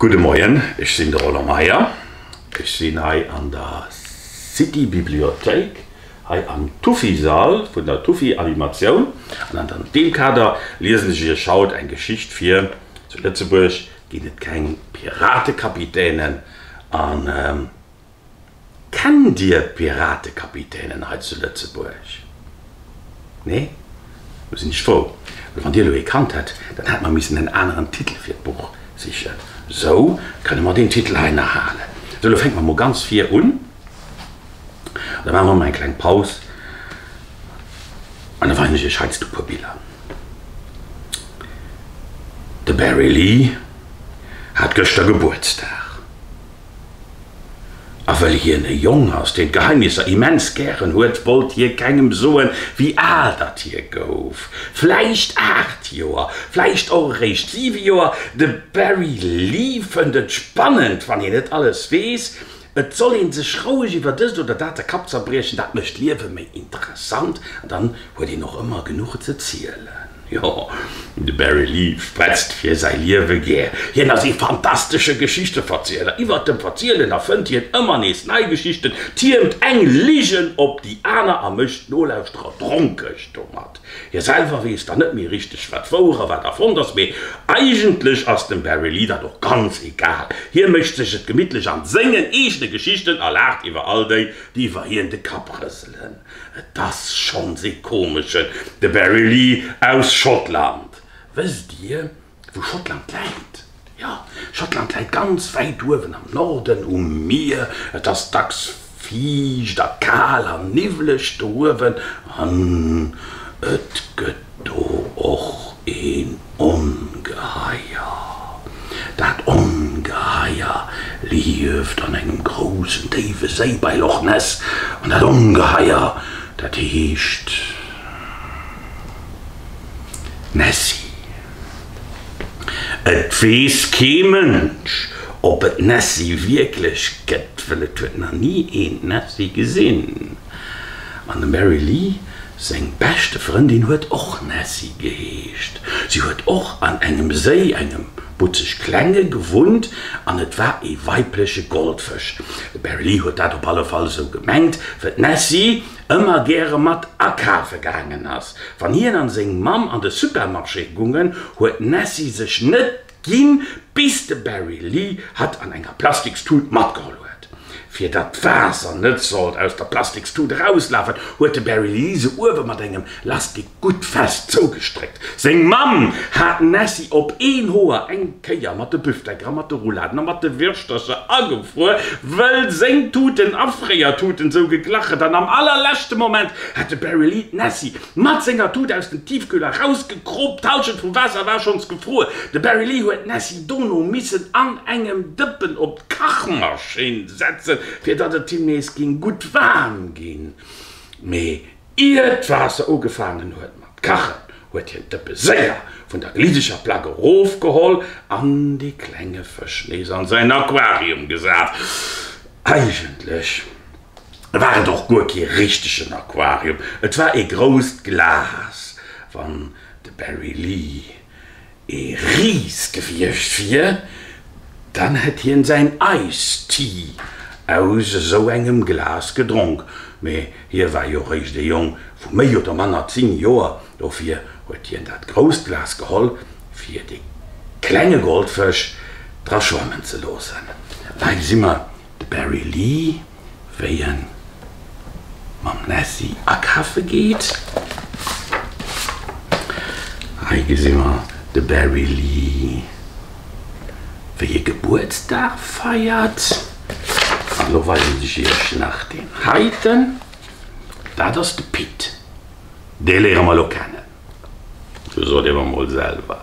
Gudde Moien, ech sinn de Roland Meyer. Ech sinn hei an der City-Bibliothéik, hei am Tuffisall vun der Tuffi-Animatioun. An an deem Kader liesen ech iech haut eng Geschicht vir, Zu Lëtzebuerg ginn et keng Piratekapitänen. Kennt Dir d'Piratekapitänen hei zu Lëtzebuerg? Nee? Do sinn ech frou, well wann Dir elo ee kannt hätt, dann hätt mer missen en aneren Titel fir d'Buch sichen. Sou kënne mer deen Titel hei nach halen. Sou, elo fänke mer mol ganz vir un. Da maache mer mol eng kleng Paus an da weisen ech Iech heiansdo e puer Biller. De Barry Lee hat gëschter Gebuertsdag. A wëll hien e Jong ass, deen d'Geheimnisser immens gären huet, wollt hie kengem soen, wéi al datt hie gouf. Vläicht aacht Joer, vläicht och eréischt siwe Joer, de Barry Lee fënnt et spannend, wann hien net alles weess. Et soll ee sech roueg iwwer dëst oder dat de Kapp zerbriechen, dat mécht d'Liewe méi interessant. An dann huet een och ëmmer genuch ze zielen. Jo, de Barry Lee spretzt fir säi Liewe gär. Hien ass ee fantastesche Geschichteverzieler. Iwwert dem Verzielen erfënnt hien ëmmer nees nei Geschichten, tiermt eng Ligen op déi aner a mécht d'Nolauschterer dronkeg domat. Hie selwer weess dann net méi richteg, wat wouer a wat erfonnt ass. Mee eigentlech ass dem Barry Lee dat och ganz egal. Hie mécht sech et gemittlech an sengen eegene Geschichten a laacht iwwer all déi, déi iwwer hien de Kapp rëselen. Et ass schonns ee komeschen, de Barry Lee aus Schottland. Wësst Dir, wou Schottland läit? Jo, Schottland läit ganz wäit uewen am Norden um Mier. Et ass dacks fiicht a kal an niwwleg do uewen an et gëtt. Do och een Ongeheier. Dat Ongeheier lieft an engem groussen déiwe Séi bei Loch Ness, an dat Ongeheier, dat heescht Nessie. Et weess kee Mënsch, ob et d'Nessie wierklech gëtt, well et huet nach ni een d'Nessie gesinn. An dem Barry Lee seng beschte Frëndin huet och Nessie geheescht. Si huet och an engem Séi, engem butzeg klenge, gewunnt, an et war ee weibleche Goldfësch. De Barry Lee huet dat op alle Fall esou gemengt, well d'Nessie ëmmer gäre mat akafe gaangen ass. Wann hien a seng Mamm an de Supermarché gungen, huet d'Nessie sech net Ginn, bis de Barry Lee hatt an enger Plastikstut matgeholl huet. Fir datt d'Waasser net sollt aus der Plastikstut erauslafen, huet de Barry Lee se uewe mat engem Lastik gutt fest zougestréckt. Seng Mamm hat d'Nessie op een Hoer eng Kéier mat de Büfteker, mat de Rouladen a mat de Wirschtercher agefruer, wëll seng Tuten a Fréiertuten sou geglach et an am allerleschte Moment hat de Barry Lee d'Nessie Mat senger Tut aus dem Tiefkühl erausgekroop, d'Halschent vum Waasser war schonns gefruer. De Barry Lee huet d'Nessie dono missen an engem Dëppen op d'Kachmaschinn setzen, fir datt et him nees ging gutt waarm ginn. Mee ier d'Waasser ugefaangen huet mat kachen, huet hien d'Dëppe séier vun der glideger Plack erofgeholl an dee klenge Fësch nees an säin Aquarium gesat. Eigentlech. war et och guer kee richtegen Aquarium, et war ee grousst Glas. Wann de Barry Lee ee Ris gewiescht wier, dann hätt hien säin Iced Tea aus esou engem Glas gedronk. Mee hie war jo réischt ee Jong vu méi oder manner 10 Joer, dofir huet hien dat grousst Glas geholl, fir dee klenge Goldfësch dra schwammen ze loossen. Hei si mer. De Barry Lee, wéi en mam Nessie akafe geet. Hei gesi mer de Barry Lee, wéi e Gebuertsdag feiert. An lo weisen ech iech nach deen heiten. Dat ass de Pit. Dee léiere mer lo kennen. Sot ee mer mol selwer,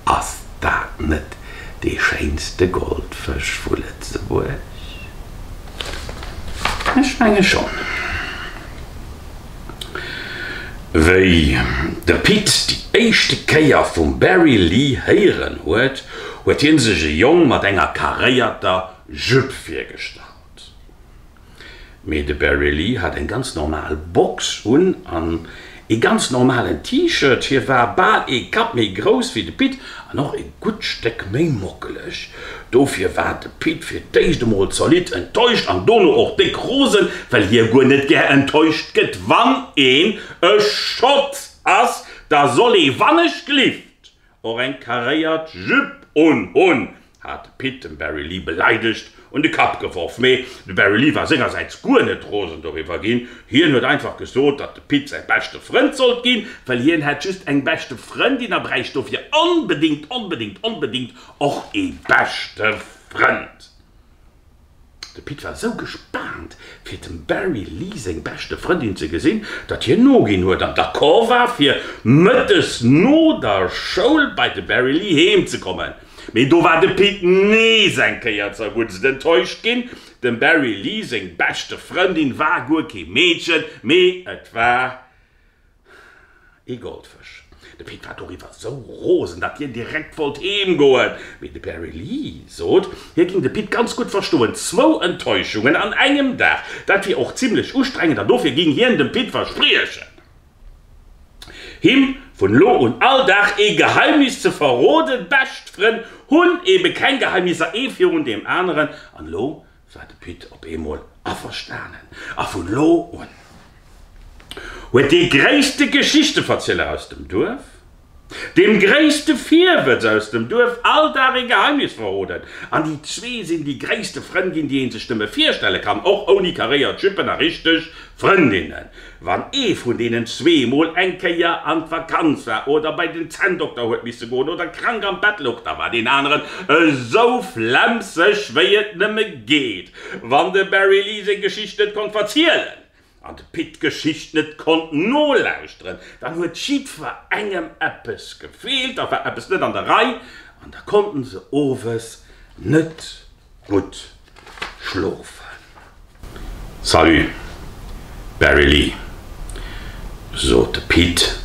ass dat net dee schéinste Goldfësch vu Lëtzebuerg? Ech menge schonn. Wéi de Pit déi éischte Kéier vum Barry Lee héieren huet, huet hie sech e Jong mat enger karéierter Jupe virgestallt. Mee de Barry Lee hat eng ganz normal Box un an ee ganz normalen T-Shirt. Hie war bal ee Kapp méi grouss wéi de Pit an och ee gutt Stéck méi mockeleg. Dofir war de Pit fir d'éischt emol zolidd enttäuscht an dono och déck rosen, well hie guer net gär enttäuscht gëtt. Wann een e Schott ass, da soll ee wannechgelift Och eng karéiert Jupe un hunn, hat de Pit dem Barry Lee beleidegt un de Kapp geworf. Mee de Barry Lee war sengersäits guer net rosen doriwwer ginn. Hien huet einfach gesot, datt de Pit säi beschte Frënd sollt ginn, well hien hätt just eng beschte Frëndin a bräicht dofir onbedéngt, onbedéngt, onbedéngt och ee beschte Frënd. De Pit war sou gespaant fir dem Barry Lee seng beschte Frëndin ze gesinn, datt hien noginn huet an d'accord war fir mëttes no der Schoul bei de Barry Lee heem ze kommen. Mee do war de Pit nees eng Kéier zerguttst enttäuscht ginn, dem Barry Lee seng beschte Frëndin war guer kee Meedchen, mee et war Ee Goldfësch. De Pit war doriwwer esou rosen, datt hien direkt wollt heem goen. Mee de Barry Lee sot, hie géing de Pit ganz gutt verstoen. Zwou Enttäuschungen an engem Dag, dat wier och zimlech ustrengend an dofir géing hien dem Pit verspriechen, him vun elo un all Dag ee Geheimnis ze verroden. Bescht Frënn hunn ebe keng Geheimnisser, ee virun deem aneren, an elo war de Pit op eemol averstanen a vun elo un huet dee gréisste Geschichteverzieler aus dem Duerf deem gréisste Virwëtz aus dem Duerf all Dag ee Geheimnis verroden an déi zwee sinn déi gréisste Frënn ginn, déi ee sech nëmme virstelle kann, och ouni karéiert Jüppen a richteg Frëndinnen. Wann ee vun deenen zwee mol eng Kéier an d'Vakanz war oder bei den Zänndokter huet misse goen oder krank am Bett louch, da war deen aneren esou flemmseg wéi et nëmme geet. Wann de Barry Lee seng Geschicht net konnt verzielen an de Pit d'Geschicht net konnt nolauschteren, dann huet jiddwer engem eppes gefeelt, da war eppes net an der Rei an da konnten se owes net Gutt schlofen. Salut Barry Lee, sot de Pit,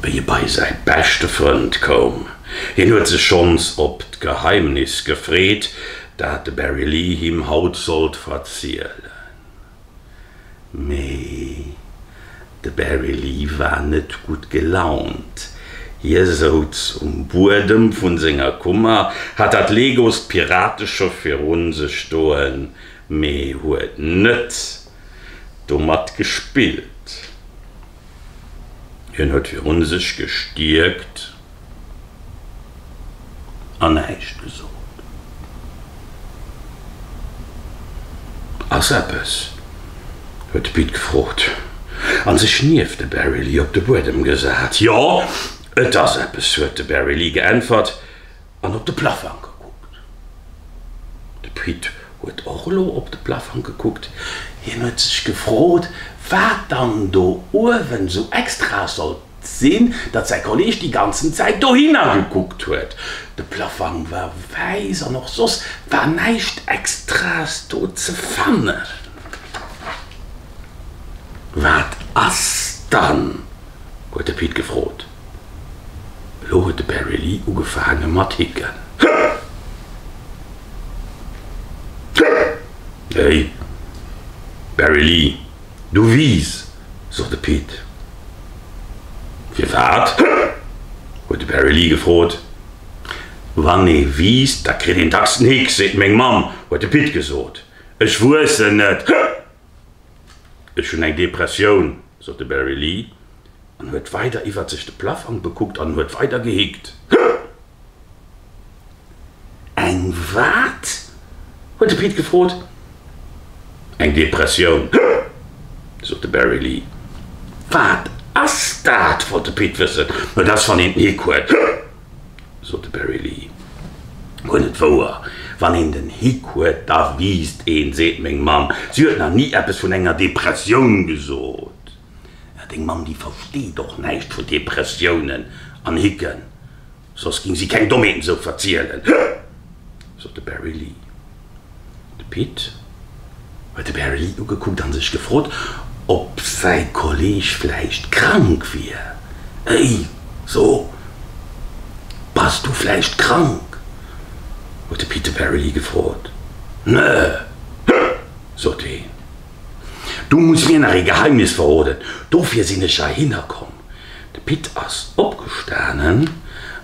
wéi e bei säi beschte Frënd koum. Hien huet sech schonns op d'Geheimnis gefreet, dat de Barry Lee him haut sollt verzielen. Mee de Barry Lee war net gutt gelaunt. Hie souz um Buedem vu senger Kummer, hat dat Legoost Pirateschëff viru sech stoen, mee huet net domat gespillt. Hien huet virun sech gestierkt an näischt gesot. Ass eppes? huet de Pit gefrot an sech nieft de Barry Lee op de Buedem gesat. Jo, et ass eppes, huet de Barry Lee geäntwert. an op de Plaffang gekuckt. De Pit huet och elo op de Plaffang gekuckt. Hien huet sech gefrot, wat dann do uewen esou extra sollt sinn, datt säi Kolleeg déi ganzen Zäit dohinner gekuckt huet. De Plaffang war wäiss an och soss war näischt Extraes do ze fannen. Wat ass dann? huet de Pit gefrot. Elo huet de Barry Lee ugefaange mat hicken. Hey, Barry Lee, du wiss, sot de Pete. Firwat? huet de Barry Lee gefrot. Wann ee wisst, da kritt een dacks en Hick, seet meng Mamm, huet de Pete gesot. Ech wuessen et. Ech hunn eng Depressioun, sot de Barry Lee an huet weider iwwert sech de Plafank bekuckt an huet weider gehickt. Eng wat? huet de Pete gefrot. Eng Depressioun, sot de Barry Lee. Wat ass dat? wollt de Pete wëssen. No, dat ass wann een d'Nick huet. sot de Barry Lee. Huet et wouer, wann een den Hick huet, da wiisst een, seet meng Mamm. Si huet nach ni eppes vun enger Depressioun gesot. Mä deng Mamm, déi versteet och näischt vun Depressiounen an Hicken, soss géing si keng Dommheeten esou verzielen, sot de Barry Lee. De Pit huet de Barry ugekuckt a sech gefrot, ob säi Kolleeg vläicht krank wier. Hey, so, bass du vläicht krank? huet de Pit de Barry gefrot. Nö, sot deen. Du muss mir nach ee Geheimnis verroden, dofir sinn ech heihinner komm. De Pit ass opgestanen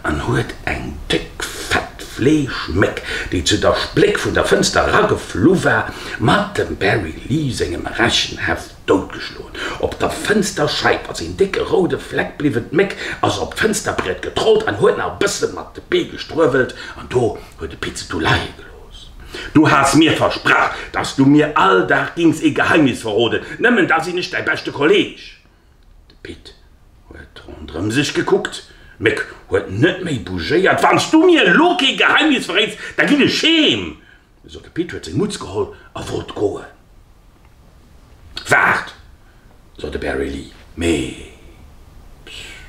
an huet eng déck, fett Fleeschméck, déi zu der Spléck vun der Fënster erageflu war, mat dem Barry Lee sengem Rechenheft doutgeschloen. Op der Fënsterscheif ass een décke roude Fleck bliwwen. D'Méck ass op d'Fënsterbriet getrollt an huet nach e bësse mat de Bee gestruewelt. An do huet de Pit se du leie gelooss. Du has mir versprach, dass du mir all Dag géings ee Geheimnis verroden, nëmmen da sinn ech däi beschte Kolleeg. De Pit huet rondrëm sech gekuckt. D'Méck huet net méi bougéiert. Wann s du mir elo kee Geheimnis verréits, da ginn ech heem, sot de Pit, huet seng Mutz geholl a wollt goen. Waart, sot de Barry Lee, mee, pssst.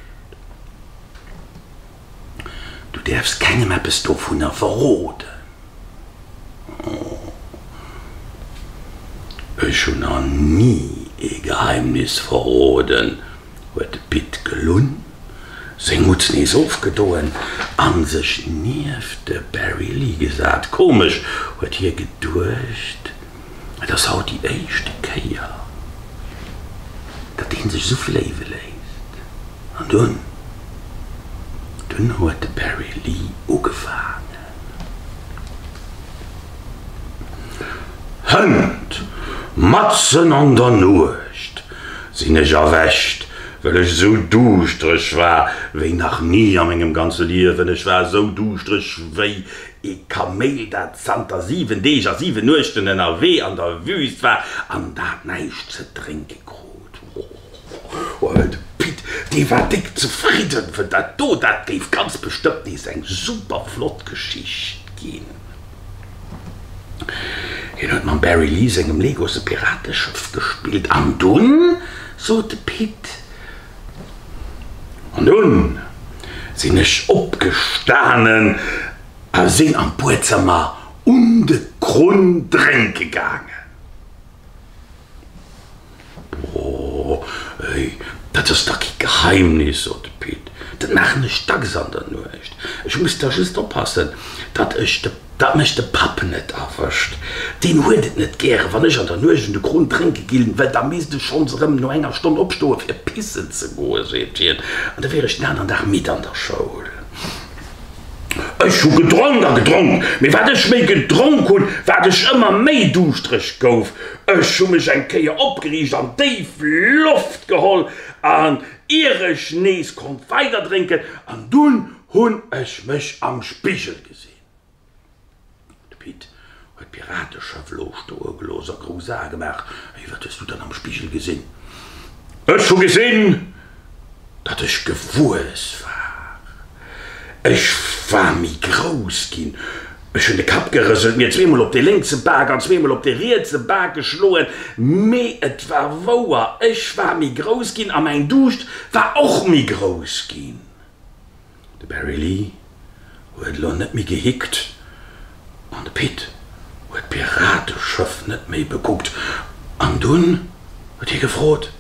Du däerfs kengem eppes dovunner verroden. Oh, ech hunn der ni ee Geheimnis verroden, huet de Pit gelunn, seng Mutz nees ofgedoen a sech nieft de Barry Lee gesat. Komesch, huet hie geduecht. Et ass haut déi éischte Kéier, datt ee sech esou fléiwe léisst. An dunn, dunn huet de Barry Lee ugefaangen. Hënt! Matzen an der Nuecht sinn ech erwächt, well ech esou duuschtereg war wéi nach ni a mengem ganze Liewen. Ech war esou duuschtereg wéi. E Kaméil, dat zanter 7 Deeg a 7 Nuechten ënnerwee an der Wüüst war an dat näischt ze drénke krut. Oh, de Pit, dee war déck zefridden vun dat do, dat géif ganz bestëmmt nees eng super flott Geschicht ginn. Hien huet mam Barry Lee sengem Legos e Pirateschëff gespillt an dunn sot de Pit, An dunn sinn ech opgestanen a sinn an d'Buedzëmmer un de Krunn drénke gaangen. Boah, dat ass dach kee Geheimnis, sot de Pit, dat maachen ech dacks an der Nuecht. Ech muss da just oppassen, datt ech de. Datt mech de Papp net erwëscht. Deen huet et net gäre wann ech an der Nuecht un de Kron drénke ginn, well da misst ech schonns erëm no enger Stonn opstoe fir pissen ze goen, seet hien, an da wier ech den aneren Dag midd an der Schoul. Ech hu gedronk a gedronk, mee wat ech méi gedronk hunn, wat ech ëmmer méi duuschtereg gouf. Ech hu mech eng Kéier opgeriicht an déif Loft geholl an ier ech nees konnt weiderdrénken, an dunn hunn ech mech am Spigel gesinn. De Pit huet d'Pirateschëff lo stoe gelooss a grouss Ae gemaach. Ey, wat hues du dann am Spigel gesinn? Ech hu gesinn, datt ech gewuess war. Ech war méi grouss ginn. Ech hunn de Kapp gerëselt, mir zweemol op de lénkse Bak an zweemol op de rietse Bak geschloen. Mee et war wouer, ech war méi grouss ginn a mäin Duuscht war och méi grouss ginn. De Barry Lee huet elo net méi gehickt an de Pit huet d'Pirateschëff net méi bekuckt an dunn huet hie gefrot,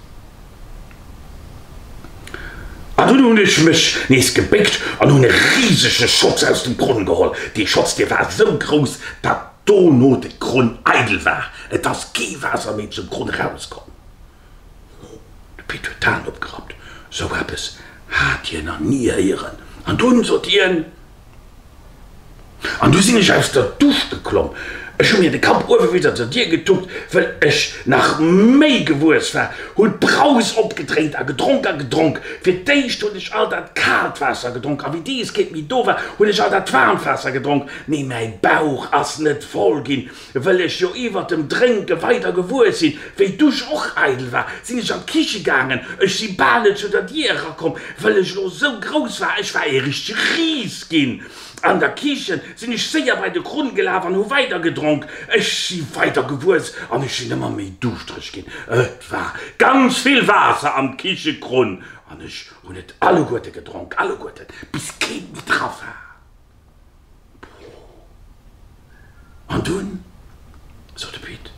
An dunn hunn ech mech nees gebéckt an hunn e risege Schotz aus dem Grunn geholl. Dee Schotz, dee war esou grouss, datt dono de Grunn eidel war, et ass kee Waasser méi zum Grunn erauskomm. Oh, de Pit huet d'Hänn opgerappt, sou eppes hat hien nach ni héieren. An dunn sot hien, An du sinn ech aus der Dusch geklomm, ech hu mir de Kapp uewe bis an zur Dier getuppt, wëll ech nach méi gewuess war, hunn d'Braus opgedréint a gedronk a gedronk. Fir d'éischt hunn ech all dat kaalt Waasser gedronk, a wéi dees kéint méi do war, hunn ech all dat waarmt Waasser gedronk, mee mäi Bauch ass net voll ginn. Wëll ech jo iwwert dem Drénke weider gewuer sinn, wéi d'Dusch och eidel war, sinn ech an d'Kiche gaangen. Ech si bal net zu der Dier erakomm, wëll ech lo sou grouss war. Ech war ee richtege Ris ginn. An der Kiche sinn ech séier bei de Krunn gelaf an hu weider gedronk. Ech si weider gewuess an ech sinn ëmmer méi duuschtereg ginn. Et war ganz vill Waasser am Kichekrunn an ech hunn et alleguerte gedronk, alleguerten, bis keen méi dra war. An dunn, sot de Pit.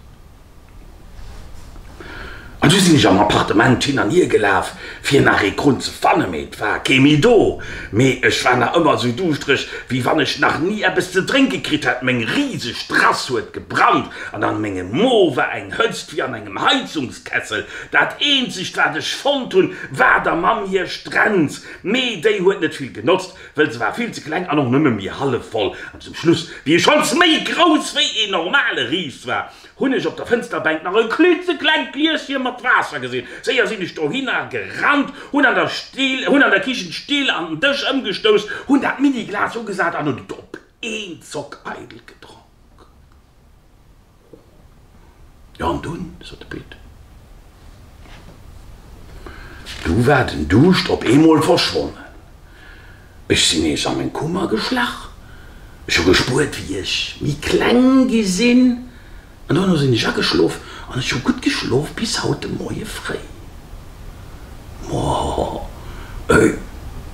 An du sinn ech am Appartement hin an hier gelaf, fir nach ee Grund ze fannen, mee et war kee méi do. Mee ech war nach ëmmer esou duuschtereg, wéi wann ech nach ni eppes ze drénke kritt hätt. Meng riseg Terrass huet gebrannt an an mengem Mo war eng Hëtzt wéi an engem Heizungskessel. Dat eenzegt, wat ech fonnt hunn, war der Mamm hir Strenz. Mee déi huet net vill genotzt, Well se war vill ze kleng an och nëmme méi hallef voll. An zum Schluss, wéi e schonns méi grouss wéi een normale Ris war, hunn ech op der Fënsterbänk nach e klitzeklengt Glieschen mat Waasser gesinn. Séier sinn ech dohinner gerannt, hunn an der Kichen d'Still an den Dësch ëmgestouss, hunn dat Mini-Glas ugesat an hunn et op een Zock eidel gedronk. Jo, an dunn? sot de Pit. Du war den Duuscht op eemol verschwonnen. Ech sinn nees a meng Kummer geschlach. Ech hu gespuert, wéi ech méi kleng gi sinn, an duerno sinn ech ageschlof. An ech hu gutt geschlof bis haut de Moie fréi. Moieh, ey,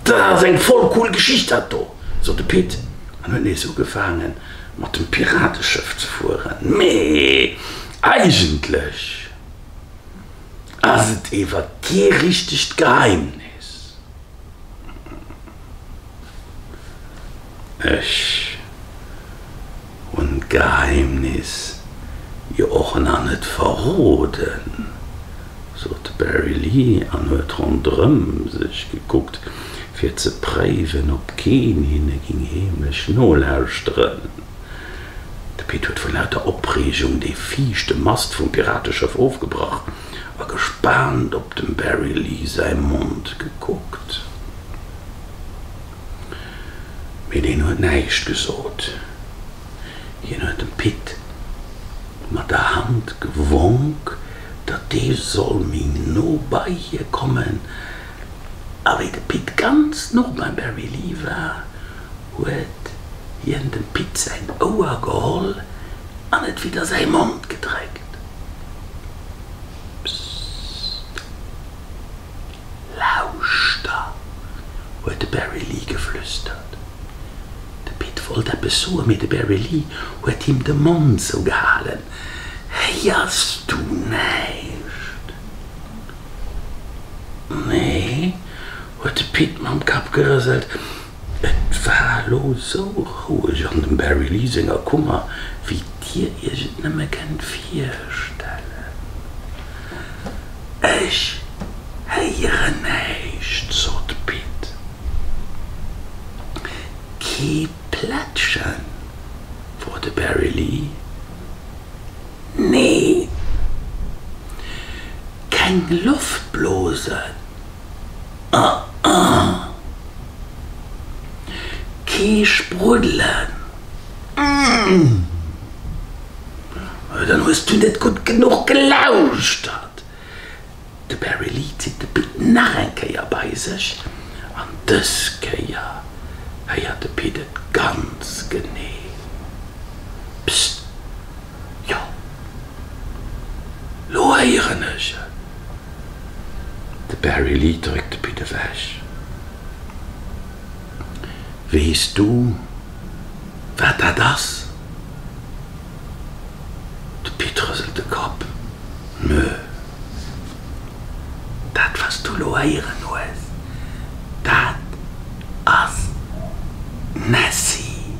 dat ass eng voll cool Geschicht dat do, sot de Pit an huet nees ugefaange mat dem Pirateschëff ze fueren. Mee eigentlech ass et ewer kee richtegt Geheimnis. Ech hunn d'Geheimnis jo och nach net verroden, sot de Barry Lee an huet ronderëm sech gekuckt, fir ze préiwen, ob keen hinne géing heemlech nolauschteren. De Pit huet vu lauter Opreegung dee viischte Mast vum Pirateschëff ofgebrach a gespaant op dem Barry Lee säi Mond gekuckt. Mee deen huet näischt gesot. Hien huet dem Pit mat der Hand gewonk, datt dee soll méi no bei hie kommen. A wéi de Pit ganz no beim Barry Lee war, huet hien dem Pit säin Ouer geholl an et widder säi Mond gedréckt. Pssst. Lauschter! huet de Barry Lee geflüstert. De Pit wollt eppes soen, mee de Barry Lee huet him de Mond zougehalen. Héiers du näischt? Nee, huet de Pit mam Kapp gerëselt. Et war lo sou roueg an dem Barry Lee senger Kummer wéi dir iech et nëmme kennt virstellen. Ech héieren näischt, sot d'Pitt. Kee Plättchen? wor de Barry Lee. Nee. Keng Loftblosen? Ëh ëh. Kee Spruddelen? Uuhh, dann hues du net gutt genuch gelauschtert. De Barry Lee zitt de Pit nach eng Kéier bei sech an dës Kéier héiert de Pit et ganz genee, Psst! Jo, lo héieren ech et. De Barry Lee dréckt de Pit ewech. Weess du, wat dat ass? De Pit rëselt de Kapp. Nö. Dat, wat s du lo héieren hues, dat ass Nessie.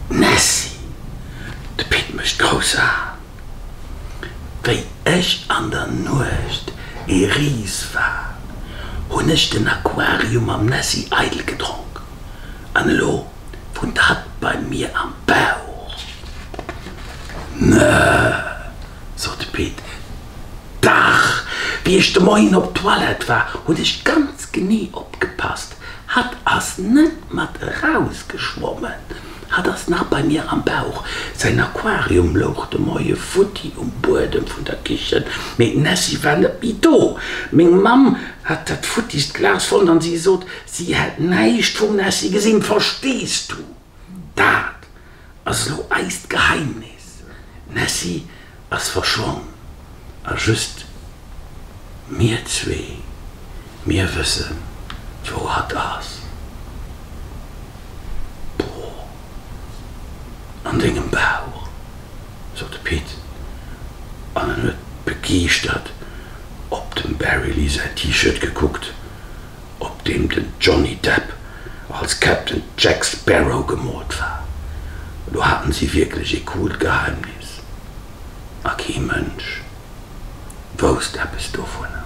Nessie! De Pit mécht grouss Aen, Wéi ech an der Nuecht ee Ris war, hunn ech den Aquarium mam Nessi eidel gedronk, an elo wunnt hatt bei mir am Bauch. Nö, sot de Pit, dach, wéi ech de Moien op d'Toilette war, hunn ech ganz genee opgepasst, hatt ass net mat erausgeschwommen. Hat ass nach bei mir am Bauch. Säin Aquarium louch de Moie futti um Buedem vun der Kichen, mee d'Nessie war net méi do. Meng Mamm hat dat futtigst Glas fonnt an si sot, si hätt näischt vum Nessie gesinn. Verstees du? Dat ass elo eist Geheimnis. D'Nessie Ass verschwonn a just mir zwee, mir wëssen wou hatt ass. Boah, an dengem Bauch, sot de Pit an en huet begeeschtert op dem Barry Lee säin T-Shirt gekuckt. op deem den Johnny Depp als Captain Jack Sparrow gemoolt war. Elo haten si wierklech ee coolt Geheimnis, a kee Mënsch wousst eppes dovunner.